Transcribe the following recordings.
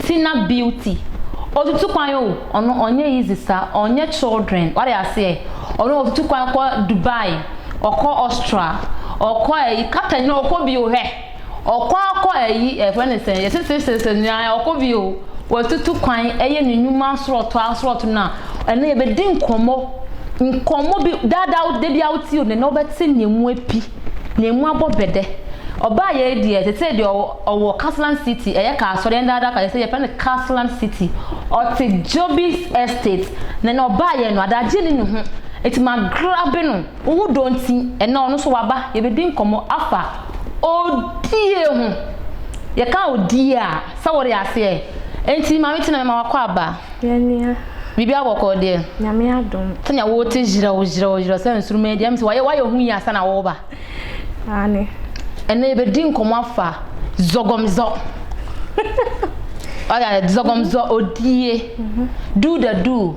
Tina beauty otutu kwan o ɔno ɔnyɛ easy sa ɔnyɛ children wade aseɛ ɔno otutu kwan kɔ Dubai ɔkɔ Austria ɔkɔ ɛyi kata nyina ɔkɔ bio hwɛ Ɔkɔ a kɔ ayi yɛfrɛ no sɛn yɛse sesese nua ɔkɔ bi o watutu kwan ɛyɛ ne nwuma asorɔto asorɔto no a ɛnɛ yɛbɛdi nkɔmmɔ nkɔmmɔ bi daa daa wo dabia wo tie o nɛnɛ wo bɛte nea ɛmu api nea ɛmu abɔ bɛdɛ ɔbaa yɛi deɛ tetee deɛ ɔwɔ ɔwɔ Casland city ɛyɛ kaasɔre yɛn daa daa ka yɛse yɛfrɛ no Casland city ɔte Jobies estate nɛnɛ ɔbaa yɛi no adagye nni ne ho ɛti ma grabe no. Wo ho dɔ nti, ɛnnɛ ɔno nso waba. Yɛbɛdi nkɔmmɔ afa odie ho. Yɛka odie a, sɛ wode aseɛ. Enti Maame Tina mema wakɔ aba. Yɛn nua. Biribiara bɔkɔɔ deɛ? Nyame adom. Sɛnea wote hyerɛw hyerɛw hyerɛw sɛ nsoroma yi deɛ, ɛm sɛ wayɛ wayɛ ho yie ansa na woreba. Aane. Ɛnnɛ yɛbɛdi nkɔmmɔ afa zɔgɔmzɔ. Wate aseɛ, zɔgɔmzɔ, odie. Do the do.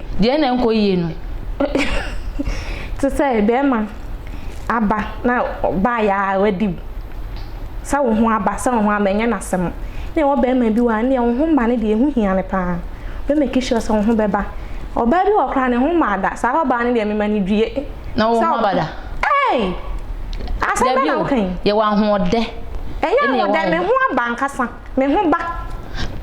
Deɛ na ɛnkɔ yie no. Te sɛ bɛɛma aba na ɔbaa yɛ a wadi wo. Sɛ wo ho aba sɛ wo ho aba ɛnyɛ n'asɛm. Nna ɛwɔ bɛɛma bi wɔ ha ndeɛ wo ho mma no deɛ ɛho hia no paa. Ɔbɛ make sure sɛ wo ho bɛba. Ɔbaa bi wɔ hɔ koraa ne ho mmaa da. Saa ɔbaa no deɛ me ma no due. Na wo ho aba da. Ei! Asɛm bɛn na wo ka yi. Dabi o yɛwɔ ahoɔdɛ. Ɛnyɛ ahoɔdɛ me ho aba ankasa. Me ho ba.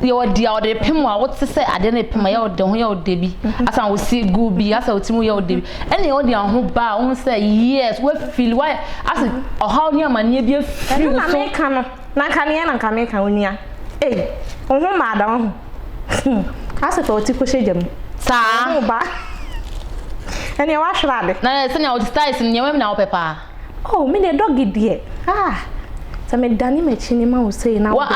Yɛ wɔ di a ɔde pem a wote sɛ adeɛ no pem a yɛ ɔde ho yɛ ɔde bi mhm. asan wo si gu bi asa wo ti mu yɛ ɔde bi mhm. ɛne ɔde ho ba a wohu sɛ yes wafili wayɛ ase mhm. ɔhaw ne amanneɛ bi afiri wo so. ɛno na meka no na nka neɛ na nka meka onua ei wo ho mmaa da wo ho hmm. ase fa ɔti kɔhyɛ gya mu saa ɛne wahwerɛ ade na sɛnea ɔde styles no nneɛma bi na wopɛ paa Oh me deɛ dɔge deɛ ah sɛ me dane m'akyi ne ma wo sei na wo de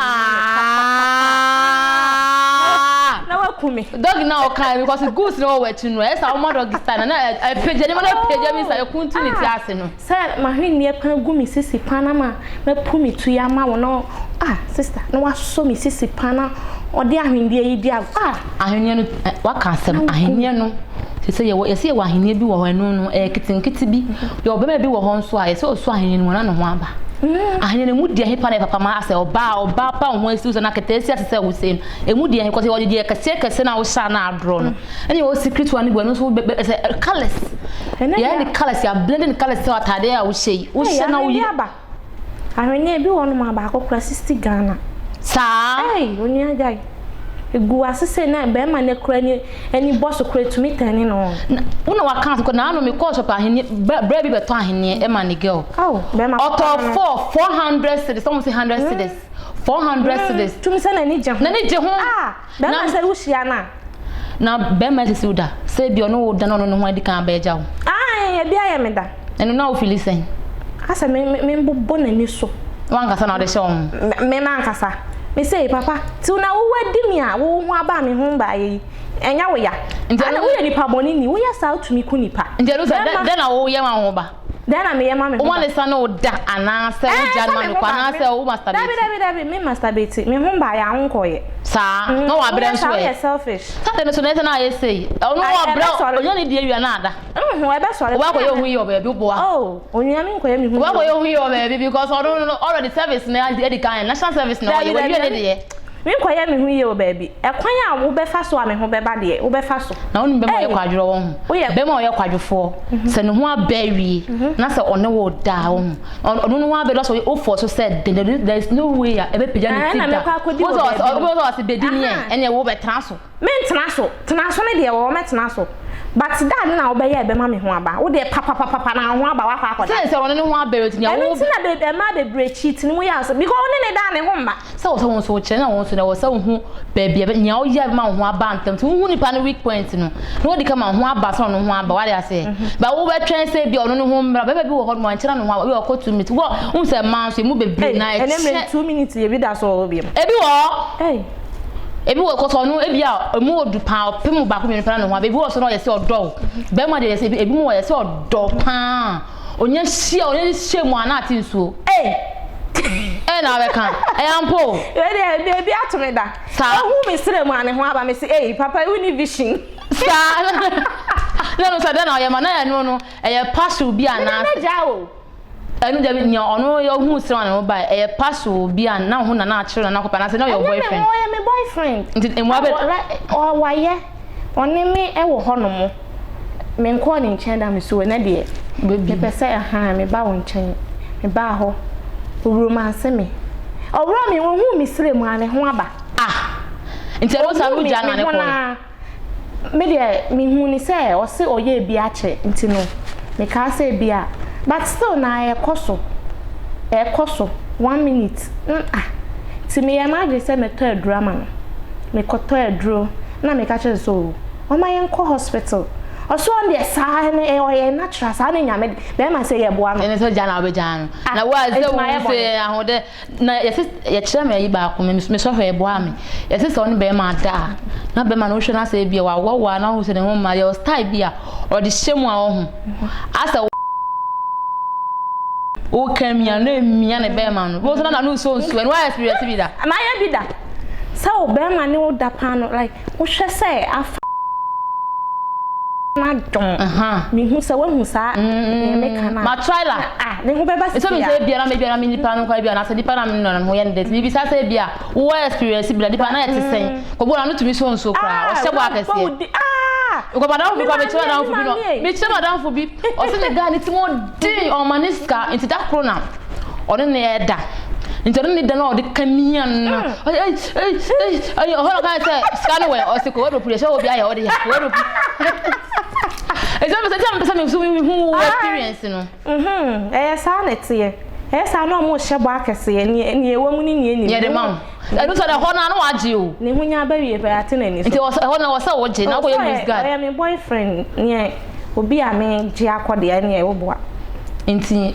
na waku me dɔge na ɔka because goose na ɔwɔ akyi no ɛsɛ ɔma dɔge style na na ɛpagya ne ma na ɛpagya mi sa ɛkuntu ne ti ase no sɛ mahwenneɛ pa gu me sisi pa na ma mapu me tu ya ma wo na ah sister na wasɔ me sisi pa na ɔde ahwenneɛ yi di ah Ahenni no, waka asɛm, ahenni no, te sɛ yɛwɔ, yɛsɛ yɛwɔ ahenni bi wɔ hɔ, ɛno no, ɛyɛ ketenkete bi. Yɛwɔ bɛma bi wɔ hɔ nso a, yɛsɛ ɔso ahenni no mu, ɔna ne ho aba. Mm. Ahenni no mu deɛ hepa na ɛpapa ma asɛ ɔbaa, ɔbaa pa wo ho asiw sɛ na kɛtɛ asi ase sɛ wo sɛ no. Ɛmu deɛ hekɔ sɛ wɔde deɛ kɛseɛ kɛseɛ na wohyɛ na adorɔ no. Ɛne yɛwɔ secret one bi, ɛno nso wobɛ, ɛsɛ colors. Yɛyɛ ne colors, yɛ blending colors sɛ atadeɛ a wohyɛ yi. Wohyɛ na woyi. Ahweneɛ ebi wɔ hɔnom a baako kora sixty Ghana. Saa. Ei onua gyae. Egu ase sei na bɛrima no kora ni ani bɔ so kora etumi tɛne no. Na wo na waka asɛm kɔ na ano me kɔɔ shop ahweneɛ bra bra bi bɛtɔ ahweneɛ ɛma ne girl. Aw bɛrima. Ɔtɔ four four hundred cedis sɛ wɔn se hundred cedis four hundred cedis. Tum sɛ n'ani gye ho. N'ani gye ho. Ah. Bɛrima sɛ wo hyia no a. Na bɛrima asisi wo da. Sɛ ebia ɔne wo da na ɔno ne ho adi kan abɛ gya wo. Ae ebi ayɛ me da. Ɛno na wo fili sɛn. Asɛ me me mbobɔ n'ani so. Wo ankasa na ɔde hyɛ wo ho. Me mankasa. Me sei papa till na wo wadi me a wo ho aba me ho mbaa yɛ yi ɛnyɛ wo ya. Nti ɛno. Ana wo yɛ nipa bɔne ni wo yɛ saa tumi ku nipa. Nti ɛno sɛ dɛ dɛ na wo yɛ ma wo ba. Dɛn na meyɛ ma me ho ba? Woma ne sa ne wo da anaasɛ wo gya no ma no kɔ anaasɛ wo masturbate? Dabi dabi dabi me masturbate me ho ba yɛ aho nkɔ yɛ. Saa na wa brɛ nso ɛ. Woyɛ saa woyɛ selfish. Saa dɛm nso na ɛsɛ na ayɛ sei. Ɔno wa brɛ ɔnya ne die wia na ada. Nhun ɛbɛ sɔre. Wa kɔ yɛ ohun yɛ wɔ baabi boa. Oh onua me nkɔ yɛ me ho yɛ. Wa kɔ yɛ ohun yɛ wɔ baabi because ɔno no already service na adi kan national service na ɔyɛ wa wie ne deɛ. Menkɔyɛ me ho yie wɔ baabi. Ɛkwan a wobɛfa so a me ho bɛba deɛ, wobɛfa so. Na wonim bɛma a ɔyɛ kwadworɔ wɔ ho? Bɛma a ɔyɛ kwadwofoɔ, sɛ ne ho abɛ awie, na sɛ ɔne wo da a, wohu. Ɔno ne ho abɛ, na sɛ wofɔɔ so sɛ dɛn, there is no way a ɛbɛpagya ne ti da. Wobɛpɛ sɛ ɔse bɛdi nie a, ɛneɛ wobɛtena so. Me ntena so, tena so no deɛ wɔ hɔ mɛ tena so but da ade na wobɛyɛ a ɛbɛma me ho aba wo deɛ papapapa na wo ho aba wakɔ akɔda. Sɛ sɛ wɔne ne ho abɛrɛ ti na ɛno ti na bɛ ɛmaa bebree cheat no mu yɛ asɔ because wo ne ne da ne ho mma. Sɛ wɔ sɛ wɔn nso wɔ kyerɛ na wɔn nso na wɔ sɛ wo ho baabi ɛbɛ nea woyɛ a ɛbɛma wo ho aba ntɛm nti wo hu nipa no weak point no na wadi ka ma ho aba sɛ ɔno ho aba wate aseɛ but wo bɛ twɛn sɛ ebi a ɔno ne ho mmra bɛɛma bi wɔ hɔ nom ankyɛ na ne ho aba ebi wɔ hɔ ɔkɔ two minutes wɔ wohu sɛ mmaa nso emu bebree na ɛkyɛ. Ɛnɛ mmerɛ no two minutes ebi da so wɔ hɔ biom. Ebi wɔ hɔ. Ei. ebi wɔ kɔsɔ ɔno ebi a emu wɔ du paa ɔpɛ mu baako mmienu paa na ɔho ebi wɔ so na ɔyɛ sɛ ɔdɔ o bɛrima deɛ yɛsɛ ebi mu wɔ yɛ sɛ ɔdɔ paa onye hyia onye hyia mu a na ate nsuo ee ɛyɛ na abɛka ɛyɛ ampo o. ebi ebi ebi ato mi da. saa ehu mi srɛ mu a ne ho aba mi si eyi papa ewu ni vision. saa na no sɛ dɛ na ɔyɛ ma na yɛ no no ɛyɛ parcel bi anaasɛ. Ɛno deɛ nea ɔno ɔhuu sɛ ɔne no bae ɛyɛ pass o bi a na ho na na akyerɛ no na akɔpɛ anaasɛ na ɔyɛ boyfriend. Ɛnyɛ ɔyɛ me boyfriend. Nti mmoa bɛ. Ɔwɔ wayɛ ɔne me ɛwɔ hɔ nom me nkɔɔ ne nkyɛn da me so ɛnɛ deɛ me pɛ sɛ ahaa me ba wo nkyɛn me baa hɔ ɔwuro ma nse me ɔwuro me ɔhuu me srɛ mu a ne ho aba ah nti ɛno saa no gya no a ne kɔɔ no. me deɛ mehu ne sɛ ɔse ɔyɛɛ bi akyɛ nti no mekaa sɛ bia but still na ɛkɔ so ɛkɔ so one minute mm ah nti meyɛ m'adwene sɛ mɛtɔ aduro ama no mekɔtɔ aduro na meka kyerɛ no sɛ o ɔma yɛnkɔ hospital ɔso ɔn deɛ saa no ɔyɛ natural saa no nyame bɛrima sɛ yɛboa no ɛne sɛ gya na wobɛgya no na wo a sɛ wo sɛ ahoɔdɛ Na yɛse yɛkyerɛ me ayi baako me me sɔhwɛ ɛboa me yɛse sɛ ɔne bɛrima ada a na bɛrima no wohwɛ no asɛ ebia wawoa woa na wohu sɛ ne ho mma yɛwɔ style bi a ɔde hyɛ mu a ɔho asɛ woka mia no emia ne bɛrima no bohu sɛ na n'ano nsuo nsuo ɛno ayɛ firi wiase bi da. Ɛna ayɛ bi da sɛ wo bɛrima ne wo da paa no like. Wohwɛ sɛ afa n'adom. Mehu sɛ woahu saa nea meka no a. Ma Twyla. Ah, ne ho bɛba sɛ bia. Ɛsɛ mi sɛ ebia na mebia na me nipa no kwa ebia anaasɛ nipa na me nɔ no ho yɛ ne dɛ. Ti mebisa sɛ ebia wo wɔ experience bi da nipa na ɛte sɛn. Kɔbu na no tumi so nsuo koraa. Ɔhyɛ bɔ akɛseɛ. Ah! Because madamfo bi kwa mekyerɛ madamfo bi no. Mekyerɛ madamfo bi. Ɔsɛ ne guy ne ti mu ɔden ɔma ne sika nti da koro na. ɔne ne ɛda nti ɔne ne da no a ɔde ka ne yia no ɔhɔ na ɔka sɛ sika no wɛ ɔse kɔ wɛdropu deɛ hyɛ wɔ bi ayɛ ɔde yɛ wɛdropu ɛsɛ mepɛ sɛ nti na mepɛ sɛ mehu mehu wo ah. experience no ɛyɛ saa na ɛteɛ ɛyɛ saa na ɔmo hyɛ bɔ akɛseɛ neɛ ɛwɔ mu ne neɛ nim yɛde ma wo Ɛno sɛ na ɛhɔ no ara na wagye o. Ne ho nya aba wie pɛ ate n'ani so. Nti ɔsɛ ɛhɔ no ɛwɔ sɛ wogye na wokɔyɛ loose guard. Ɔyɛ me boyfriend neɛ obi a me gye akɔ deɛ ɛneɛ wo boa. Nti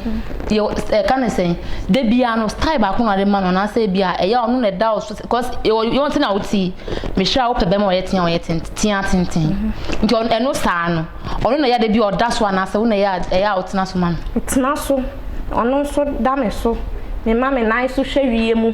yɛ ɛka ne sɛn da biara no style baako na ɔde ma no anaasɛ ebia ɛyɛ a ɔno na ɛda wo so cos yɛwɔ yɔn ti na wo ti me sure a wopɛ bɛrima a ɔyɛ tea ɔyɛ tenten tea tenten nti ɔno ɛno saa no ɔno na ɛyɛ a da bi a ɔda so anaasɛ wo na ɛyɛ a ɛyɛ a wotena so ma no. Metena so ɔno nso da me so mema me nan so hwɛ wie mu.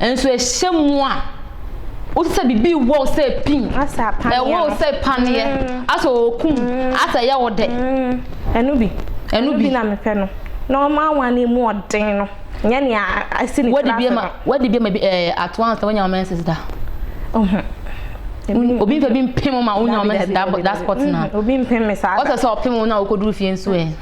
Nso ɛhyɛ mu a, wote sɛ biribi rewɔ wo sɛ pim. Asɛ apaneɛ no. Ɛwɔ wo sɛ paneɛ. Mm. Asɛ ɔrekum. Mm. Asɛ ɛyɛ wo dɛ. Mm. Ɛno bi. Ɛno bi. na mepɛ no. Na ɔma awa no mu ɔden no. Nyɛ nea asi ne tiri ase no. Wadi bi ma bi ɛɛ ato ansa wonya wo menses da. Ɔho. Obi mfɛ bi mpem ma wonya wo menses da da spot na. Mm-hmm. Obi mpem me saa da. Ɔsɛ sɛ ɔpem wo na wokɔduru fie nso ɛ.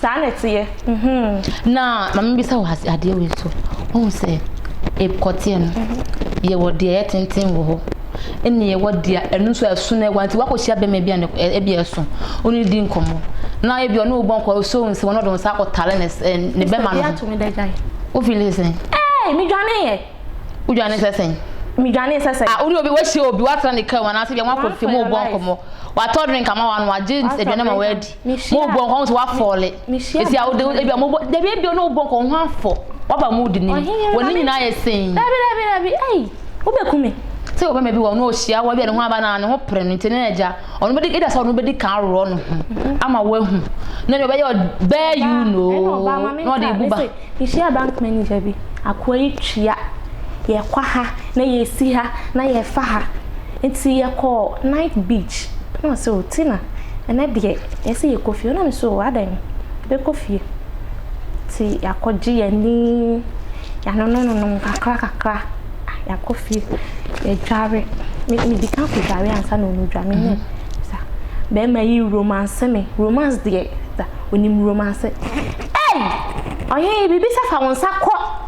Saa na ɛteɛ mm-hmm. Na ma me bisa wo ase adeɛ wei so. Wohu sɛ ɛkɔteɛ no, mm-hmm. yɛwɔ deɛ ɛyɛ tenten wɔ hɔ. Ɛne yɛwɔ deɛ ɛno nso ɛso na ɛwa nti wakɔhyia bɛma bi a ɛbi ɛso. Wone di nkɔmmɔ. Na ebi ɔne wobɔ nkɔ so nsi wɔn ɔde wɔn sa akɔtale ne eh, ne bɛma no. Ɛsɛ bi ato me dɛ gyae. Wofili sɛn? Ɛɛ, medwane yɛ. Wodwane sɛ sɛn? midwane sɛ sɛ. ah wuli obi wɔsi obi watra ne kan wɔn ase bi wɔn akɔ fi mu bɔ nkɔmɔ watɔ drink ama wɔn ano agye aduane ma wɔadi. Mo bɔ nkɔ ho sɛ wafɔle. Esi a wode ebi a mo bɔ dabi ebi a ɔne wo bɔ nkɔ ho afɔ. Waba mood ni. Wɔ ne nyinaa yɛ sɛn. Dabi dabi dabi ei wobɛku me. Sɛ ɔbɛma bi wɔ ɔno ɔhyia wo ebi a ne ho aba na ne ho pere no nti ne agya ɔno bɛdi eda sɛ ɔno bɛdi kan aworɔ ne ho ama wahu na deɛ ɔbɛyɛ ɔbaa you know na ɔde ebu ba. Mehyia bank manager bi akoa yi tua yɛkɔ ha na yɛsi ha na yɛfa ha. Nti yɛkɔɔ night beach na ɔse oh Tina ɛnɛ deɛ yɛse yɛkɔ fie na mese oh adɛn yɛbɛkɔ fie nti yɛakɔgye yɛani yɛanonom nonom kakra kakra yɛakɔ fie yɛdware me medika kɔdware ansa na ɔno dwa menyɛ sa bɛɛma yi romance me romance deɛ sa ɔnim romance ei ɔhee biribi sɛ fa wo nsa kɔ.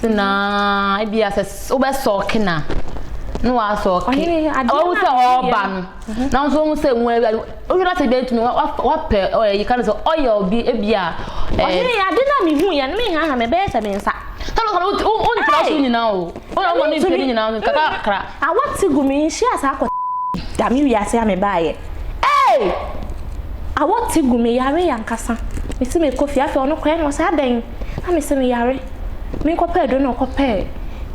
se na ebi asɛ wobɛ sɔɔke na na wasɔɔke ɔhu sɛ ɔɔba no mhm. na nso ɔhu sɛ nwura bi wohwɛ na sɛ ebi atumi wapɛ ɔyɛ yi ka no sɛ ɔyɛ obi ebi a ɔhene yɛ ade na mehu yɛ no mehaha mebɛyɛ sɛ me nsa sɛbɛ kɔnɔ wontra so nyinaa o wona woma no mfiri nyinaa no kakakra awɔte gu me nhyia saa kɔ dame wiase a mebaayɛ ei awɔte gu me yare yɛ ankasa mesi mekɔ fie afei ɔno kɔɛ no ɔsɛ adɛn Na mese no yare. Menkɔpɛ aduro na ɔkɔpɛɛ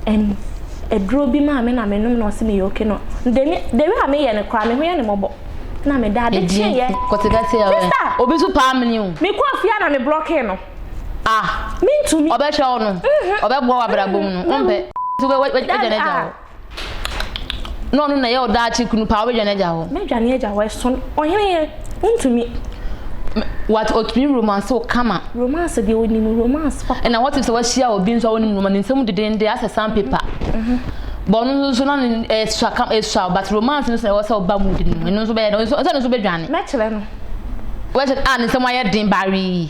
ɛm aduro bi maa me na menom na ɔse meyɛ oke no. De me de wei a meyɛ no koraa me ho yɛ no mmɔbɔ. Na meda ade kyeeɛ. Sista! Obi so paa mene o. Mekɔɔ fie a na me blɔkee no. Ah! Mentumi. Ɔbɛhwɛ wo no. Ɔbɛboa wo abrabɔ mu no. Wompɛ. Nti wagya no agya wo. Na ɔno na ɛyɛ wo daakye kunu paa, wobɛdwane agya hɔ. Mɛdwane agya hɔ, ɛso ɔhene yɛ, wontumi. What otumi romance wo kama. Romance deɛ onim romance papa. Ɛna what if sɛ wahyia obi nso a onim romance ne nsɛm dedende asɛ sandpaper. Bɔ no nso na ɛsua kam ɛsua but romance nso na ɛwɔ sɛ ɔba mood no mu ɛno nso bɛyɛ no nso nso nso bɛdwane. Mɛkyerɛ no. Wɛkyɛ a ne nsɛm ayɛ den bawee.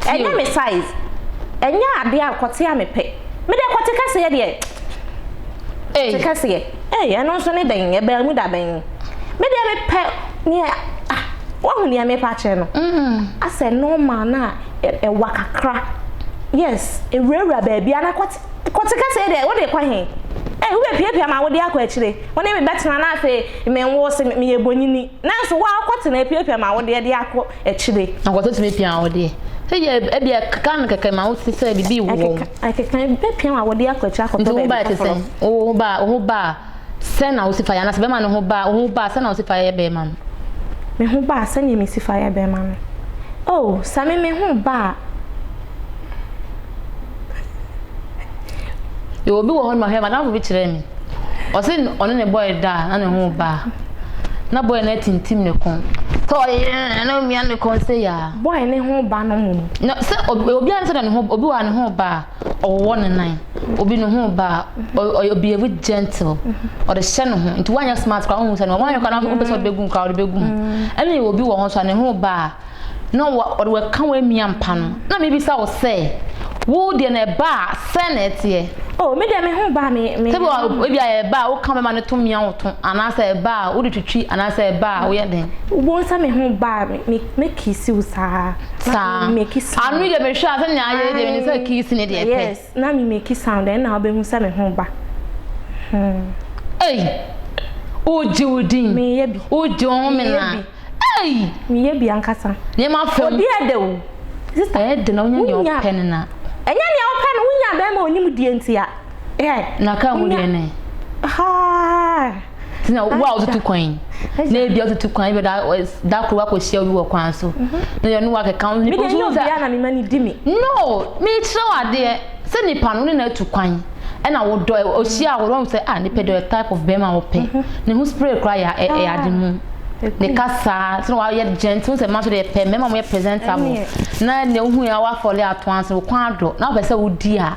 Ɛnyɛ me size. Ɛnyɛ adeɛ a kɔte a mepɛ. Me deɛ kɔte kɛseɛ deɛ kɔte kɛseɛ. Ei ɛno nso ne dɛn ɛbaa mu da bɛn. Me deɛ mepɛ neɛ ah wahu neɛ mepɛ akyerɛ no. Asɛ normal no a ɛwa kakra yes ɛwurawura baabi anaa kɔte kɔte kɛseɛ deɛ wode rekɔ he. Ei wobɛpiapia ma wode akɔ akyire wo ne me bɛtena na afei menwoo se meyɛ bonyini nanso wo ara wokɔtena apiapia ma wode ɛde akɔ akyire. Nkɔso tumi pia awodeɛ. Sɛdeɛ ɛbia ɛkeka no kɛkɛ ma wote sɛ biribi rewɔ wo. Ɛkeka, ɛbɛpia w'awodeɛ akɔ akyire akɔtɔ baabi foforɔ. Nti wo ho ba te sɛn? Wo ho ba, wo ho ba a, sɛn na wosi fa yɛ? Anaasɛ bɛrima no ho ba, wo ho ba a, sɛn na wosi fa yɛ bɛrima no? Me ho ba a, sɛdeɛ mesi fa yɛ bɛrima no. Oh, sɛ me, me ho ba a. yɛwɔ obi wɔ hɔ no ma hwɛ madamfo bi kyerɛ me ɔse ɔne ne bɔyɛ da a na ne ho ba a na bɔyɛ no atintim ne ko sɛ ɔyɛ na omia ne kɔn sɛ yɛ a bɔyɛ ne ho ba no mu no sɛ obi ara sɛ na ne ho obi wɔ a ne ho ba a ɔwɔ ne nan obi ne ho ba a ɔyɛ obi ebi gentle ɔde hyɛ ne ho nti wanyɛ smart kora ɔhu sɛ no wanyɛ kora na ɔpɛ sɛ ɔde bɛgu mu kora ɔde bɛgu mu ɛna yɛ obi wɔ hɔ nso a ne ho ba a na wa ɔde w'ɛka w'amia mpa no na mebisa wo sɛ wo deɛ na ɛba a sɛn na ɛteɛ? Oh me deɛ me ho ba me me. Sɛbi wa ebi a ɛba a woka bɛma no to mia wo to anaasɛ ɛba a wode twitwi anaasɛ ɛba a woyɛ den? Wobɛhu sɛ me ho ba a me me me kiss wo saa. Saa. Ano yi deɛ mehwɛ a sɛnea ayɛ yi deɛ menim sɛ kiss ne deɛ ɛpɛ. Yes. Na me make sound ɛnna wobɛhu sɛ me ho ba hmm. Ei! Wogye wo din. Meyɛ bi. Wogye wo home na. Ei! Meyɛ bi ankasa. Nneɛma fam. Obi ɛdɛ o. Sista. Ɛyɛ de na wonya nea ɔpɛ no na. Ɛnyɛ nea ɔpɛ no wonya bɛrima onim deɛ nti a. Ɛ. Na ka ho deɛ ne. Haa. Ti na wo a wotutu kwan yi. Na ebi a wotutu kwan yi bɛ da da koro wakɔhyia obi wɔ kwan so. Na yɛ no wakɛka ho nipa nso sɛ. Bia na mema ne di me. No, mekyerɛ wo adeɛ sɛ nipa no ne na atu kwan ɛna wodɔ ɔhyia wɔ wɔn sɛ ah nipa dɔ type of bɛrima a wɔpɛ. Ne ho spray koraa yɛ ɛyɛ ade mu. Ne kasa sɛ na wayɛ gentle sɛ mmaa nso deɛ pɛ mmarima a wɔyɛ presentable. Na nea wohu yɛ a wafɔle ato ansa wɔ kwan adɔ na wopɛ sɛ wodi a.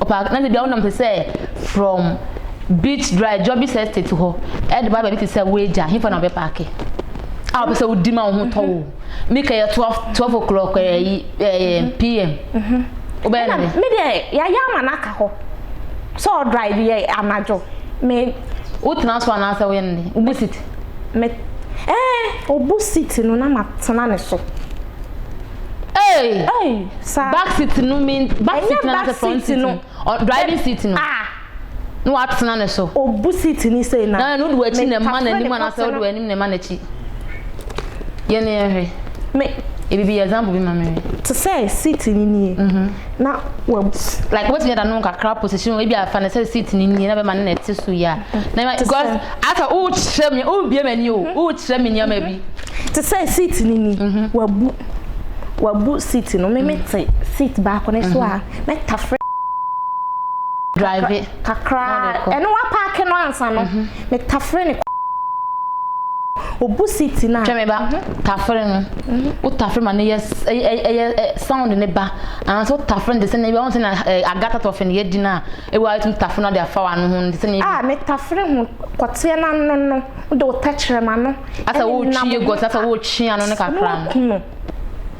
Ɔpaa na dabi a wonam te sɛ from beach drive Jobbis estate hɔ de ba baabi te sɛ Weija hefa na wobɛpaake a wopɛ sɛ wodi ma wo ho tɔ wo mi kɛyɛ twelve twelve o'clock ɛɛ yi ɛɛ pm wobɛyɛ Ɛna no dɛ me deɛ yɛayɛ ama no aka hɔ sɛ ɔdrive yɛ anadwo me wotena so anaasɛ woyɛ no dɛn wobu seat? me ɛɛ obu seat no na matena ne so. Hey! Hey, sa. Back seat no mean back seat na na front seat no. Driving seat no. Ah. No atena ne so. Obu seat ni sei na. Na no do achi na ma na ni ma na se do anim na ma na chi. Ye ne ehwe. Me e bibi example bi ma me. To say seat ni ni. Mhm. Na wa like what me da no kakra position e bi afa na say seat ni ni na be ma na te so ya. Na because asa u chire me u bi ma ni o. U chire me ni ma bi. Te sɛ seat no ni, mhm. wabu wabu seat no me me te seat baako ne so a mhm. mɛtafrɛ drive kakra ɛno wapaake no ansa no mhm. metafrɛ ne obu seat no a twɛ me ba tafere no wo tafere ma no yɛ ɛyɛ sound ne ba anaasɛ wo tafere no te sɛ ne ɛbɛwɔ sɛ na agata tɔfe no yɛdi no a ɛwɔ ayɛ tumi tafere no de afa w'ano ho te sɛ ne a metafere ho kɔteɛ no ano no wode wo tɛkyerɛma no Asa wo twi egu ɔtena sɛ wo twi ano no kakra. Na waku no.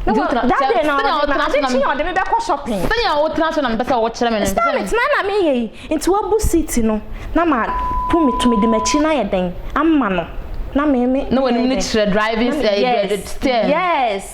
Nti wo tena sɛ sɛ na wo tena so na. Ade kye na ɔde me bɛ kɔ shopping. Sɛ na wo tena so na me pɛ sɛ wo kyerɛ me no. Sɛ me tena na me yɛ yi. Nti wa bu seat no na ma to me to me de m'akyi na yɛ dɛn ama no na me me. Na w'anim no kyerɛ driving ɛɛ steer. Yes.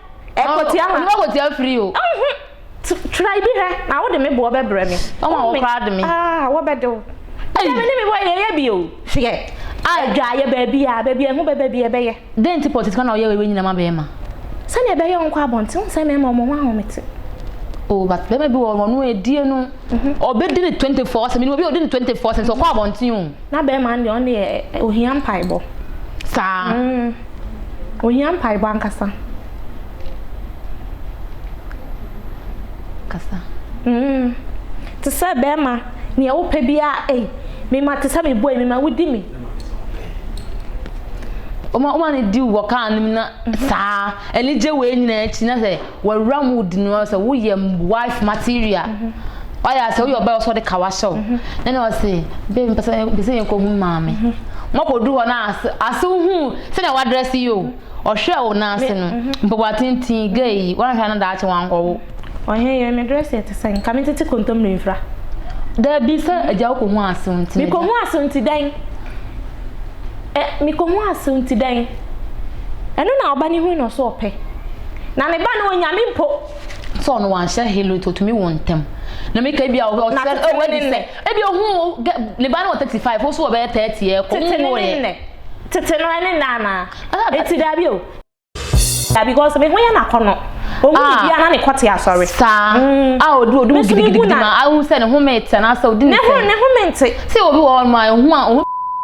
Ɛkɔ tia ha. Onipa kɔ tia firi o. Ɛnho. Try bi hwɛ na wo de me boɔ bɛ brɛ me. Ɔma wɔ koraa de me. Aah wɔ bɛ de wo. Ɛnɛ me ne me boy yɛ yɛ bi o. Hwɛ. Aah ɛdwa yɛ baabi a baabi a ɛho bɛ bɛ bi yɛ bɛ yɛ. Dɛn nti pɔtiti ka na ɔyɛ wei nyina ma bɛɛma. Sɛnea ɛbɛyɛ ɔnkɔ abɔnten wohu sɛ mɛɛma ɔmo ho ahomete. Oh but bɛɛma bi wɔ hɔ no ɔno ɛdie no ɔbɛ di ne 24 sɛ me nim obi a ɔdi ne 24 sɛ nti ɔkɔ abɔnten o. Na bɛɛma no deɛ ɔno deɛ ohia mpaebɔ. Saa. Mm. Ohia mpaebɔ ankasa. Kasa. Mm. Te sɛ bɛɛma nea wopɛ biara ei mema te sɛ mebɔ yi mema wodi me. Oma oma ne di wɔ kaa no mu na saa anigye wei nyinaa akyi na sɛ wawura mu di no sɛ woyɛ wife material ɔyɛ asɛ woyɛ ɔbaa ɔsɔ de ka wahyɛ wo mhm. na na ɔse baby mpɛ sɛ mpɛ sɛ yɛnkɔ hu maame mhm. mɔkɔdu hɔ na ase ase hu sɛnea wadrɛse yi o mhm. ɔhwɛ wo na ase no mpaboa tenten gay yi wanhwɛ no daakye wankɔwo ɔhɛ yɛ me drɛse ɛte sɛ nka me tete kontommire mfra daabi sɛ agya wokɔ hu asew nti mekɔ hu asew nti dɛn mekɔ hu asew nti dɛn ɛno na ɔba ne hui na ɔso ɔpɛ Na ne ba no onyame mpo. Sɛ ɔno wanhyɛ halo to otumi wo ntɛm. Na mi ka ebi a ɔwɔ sɛ ɔwɔ adi sɛ ebi ohun wo ne ba no wɔ thirty five osu wɔ bɛyɛ thirty ɛ kɔ mu wo yɛ. Tete no ɛne nna anaa? Eti daabi o. Daabi cause me ho yɛ no akɔnɔ. Ohun biribi a na ne kɔ te asɔre. Saa a odu odu gidigidi ma ahu sɛ ne ho me te anaasɛ odi ne sɛ. Ne ho me nte. Sɛ obi wɔ hɔ nom a ehu a.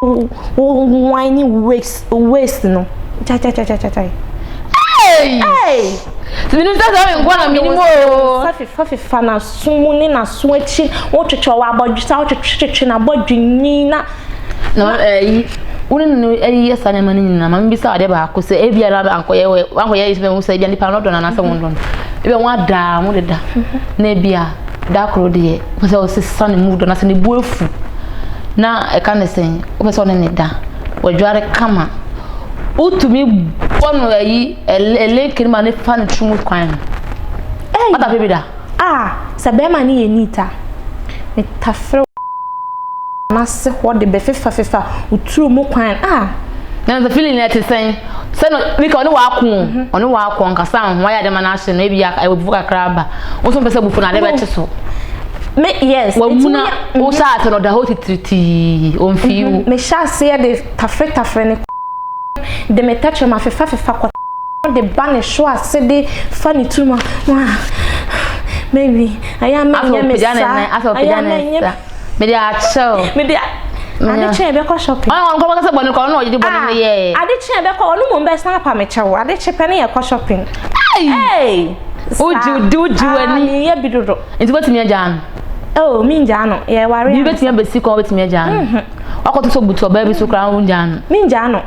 Wo wine ne wo waist waist no. Cha cha cha cha cha cha. Hey! Hey! Minim sɛ sɛ menkɔ na menim o. Safi fafi fa na so mu ne na so akyi. Wo twetwe wa abɔdwe sa wo twetwe twetwe na abɔdwe ni na. Na eh wo ne no eh yɛ sa na ma ne nyina ma mbisa ade ba ko sɛ e bia na ba ankɔyɛ wankɔyɛ yi sɛ wo sɛ bia nipa no dɔ na na sɛ wo dɔ. Ebi wɔn adaa mo deda. Na bia da koro deɛ wopɛ sɛ ɔsesa ne mood anaasɛ ne bu afu na ɛka ne sɛn wopɛ sɛ ɔne ne da wadware kama wotumi bɔ no ayi ɛlenke no ma ne fa no tiri mu kwan no ɔda bɛbi da a sɛ bɛrima ne yɛ nita metafrɛ n'ase hɔ de bɛfefafefa wo turo mu kwan a na the feeling na te sɛn sɛ no bika ɔne waako mhm. ɔne waako ankasa ho ayɛ de ma no ahye no ebi abufu kakra aba wo so mpɛ sɛ abufu no ade bɛkye so me yes wamuna mhm. wo hyɛ ase no da hɔ titiritii ɔmfii wo mhm. mehyɛ aseɛ de tafere tafere ne de me tɛkyerɛ ma fefa fefa kɔ de ba ne so ase de fa ne turuma wa mawi ayɛ ama nyɛ me sa ayɛ ama nyɛ Mede akyɛ o. Mede a ade kye yɛbɛkɔ shopping. Ɔno nkurɔfoɔ kasa bɔne kɔ ɔno na ɔgyegye bɔne no yɛ. Ah ade kye yɛbɛkɔ ɔno mmom bɛsan apa me kyɛw ade kye pɛ ne yɛkɔ shopping. Ei! Ei! Wogye wode wogye w'ani. Ah meyɛ bi dodo. Nti wobɛtumi agyaa no? Oh mengyaa no yɛware ansa. Biribi bɛtumi abɛsi kwan wobɛtumi agyaa no? Wakɔtotɔ butu ɔbaa bi so koraa wongyaa no? Mengyaa no.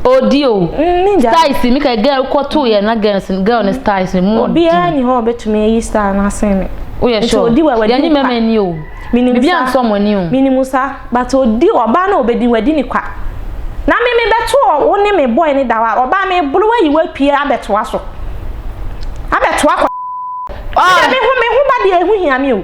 Odi o. Mm, ne gya. Styles mi ka girl kɔ to yɛ na girls girl ne styles mi mu. Obiara ni hɔ obetumi ayi style na asen me. O yɛ sure. Odi wɛ wadi. Yɛn ni mɛmɛ ni o. Minimu sa. Bibi ansɔ mo ni o. Minimu sa, but odi ɔbaa na obedi wadi ni kwa. Na me me bɛto wo ne me boy ne dawa. Ɔbaa me bolo wayi wapie abɛtoa so. Abɛtoa kɔ. Oh. Me de me ho me ho ba deɛ ɛho hia me o.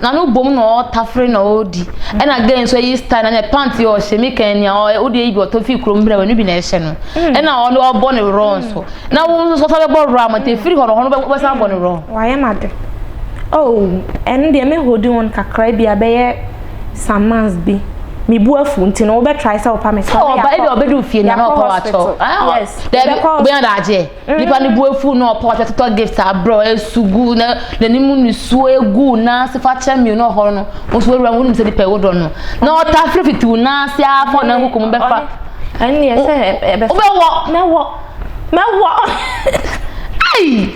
Na no bom na ɔtafere na ɔdi ɛna gay nso ayi style na ne pant yi ɔhyɛ me kan ni a ɔyɛ wode ayi bi ɔtɔ fi krom brɛ w'ani bi na ɛhyɛ no ɛna ɔne ɔbɔ ne wrɔ nso na wo nso sɔsɔ bɛbɔ wrɔ ama te firi hɔ no hɔ no wobɛsan abɔ ne wrɔ. Wayɛ m'ade oh ɛno deɛ me holding on kakra bi a bɛyɛ some months bi me bu afu nti no wobɛ try sɛ wopa me so na yɛakɔ hospital yes yɛbɛkɔ hospital. Nipa no bo afuw na ɔpaw ase totɔ Gift abrɛ ɔyɛ su gu na n'anim nisuo egu nan ase fa kyɛ mmienu ɔhɔre no wo nso w'awura wonim sɛ nipa ɛwɔ dɔ no na ɔta firi fitiw nan ase ara fa ɔnan kuku mu bɛfa ɛnneɛ sɛ ɛbɛfa wobɛwɔ mɛwɔ mɛwɔ ai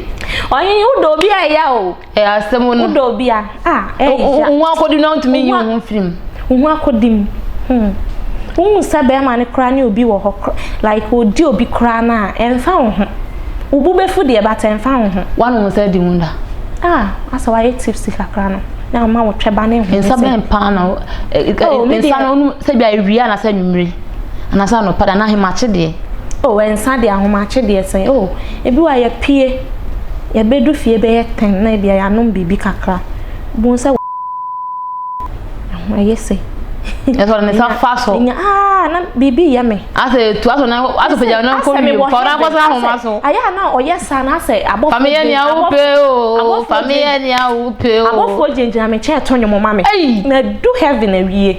ɔhene wodɔ obi a ɛya o Ɛyɛ asɛm no. Wodɔ obi a, ah, ɛyɛ. Wo ho akɔdi na wontumi nyi wo ho mfiri mu. Wo ho akɔdi mu. Hmm. Wohu sɛ bɛrima no koraa ne obi wɔ hɔ kora. Like ɔdi obi koraa no a, ɛmfa wo ho. Wo bo bɛfu deɛ, but ɛmfa wo ho. Woanom nsa di mu da? Ah, asɛ woayɛ tipsy kakra no. Na ama wo twɛba ne ho. Nsa bɛn paa na. Oh, nsa no, sɛ bi a awia na sɛ nwummere. Anaasɛ anɔpa deɛ na ahomakye deɛ. O oh, ɛnsa deɛ ahomakye deɛ sɛn. O oh, ebi wa yɛpie. Yɛbɛdu fie bɛyɛ tɛn na ebia yɛanom biribi kakra. Bohu sɛ ɛyɛ sɛ. Ɛsɛ ɔde ne nsa fa so. Nya aa na biribi yɛ me. Asɛ tu asɔ na asɔ pagya na nkɔ wie. Fa na akɔsa ahoma so. Ayɛ a na ɔyɛ saa na asɛ abɔfo. Fami yɛ nea wopɛ o. Fami yɛ nea wopɛ o. Abɔfo gyinagyina me nkyɛn ɛtɔ nnwom ma me. Na du heaven awie.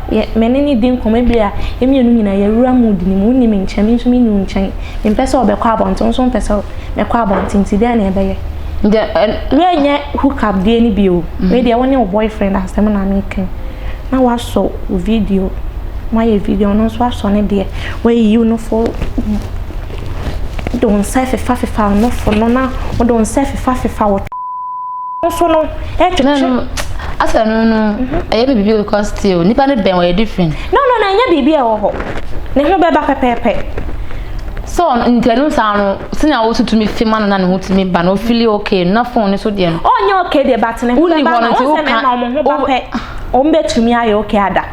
Yɛ me ne no di nkɔmmɔ ebia a, yɛn mmienu nyinaa yɛawura mood no mu. Wonni me nkyɛn, me nso menni wo nkyɛn. Mempɛ sɛ wobɛkɔ abɔnten, wo nso wompɛ sɛ mɛkɔ abɔnten, enti dɛn na yɛbɛyɛ? Deɛ ɛn, wei nyɛ hook up deɛ no bio. Wei deɛ wo ne wo boyfriend asɛm na mereka yi. Na woasɔ wo video, moayɛ video, ɔno nso asɔ ne deɛ. Woayiyi wo nofo, wode wo nsa afefafefa wo nofo no, na wode wo nsa afefafefa wo. nso no ɛtwetwe na no asɛ no no ɛyɛ me biribi because still nipa no bɛn wɔyɛ different no no na ɛnyɛ biribi a ɛwɔ hɔ ne ho bɛba pɛpɛɛpɛ so ntɛnu saa no sini a wotu tumi fi ma no na ne ho tumi ba no ofili okay na phone ne so deɛ no ɔnyɛ okay deɛ but ne ho bɛba na wɔn sɛ mɛma wɔn ho ba pɛ wɔn bɛtumi ayɛ okay ada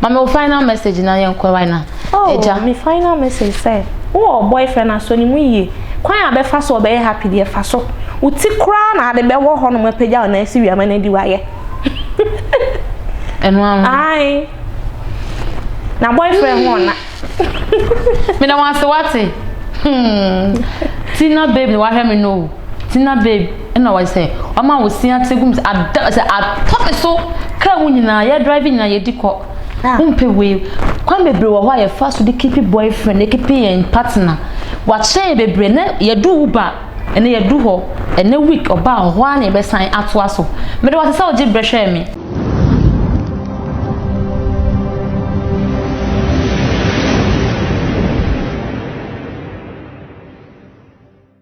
Ma me wo final message na yɛnkɔ right now. Oh, Agya. me final message sɛ, wowɔ wo boyfriend a sɔ ne mu yie. Kwan a ɔbɛfa so a ɔbɛyɛ happy deɛ fa so. Wo ti koraa na ade bɛwɔ hɔnom apagya wo nan asi wia ma no adi wayɛ. Ɛno ara no. Ae. Na boyfriend ho ɔna. Meda wo ase wate. Hmm. Tina babe na wahwɛ me no o. Tina babe ɛna wɔyɛ sɛ ɔma wo sin ate gum sɛ ada sɛ atɔ me so kaa mu nyinaa yɛ drive nyinaa yɛdi kɔ ah. wompɛ wei kwan bebree wɔ hɔ a yɛfa so de keepi boyfriend keepi yɛn partner wakyerɛ yɛn bebree na yɛdu wo ba ɛna yɛdu hɔ ɛnɛ week ɔba a hɔ a na yɛbɛsan atoa so mede wɔte sɛ wogye berɛ hwɛɛ me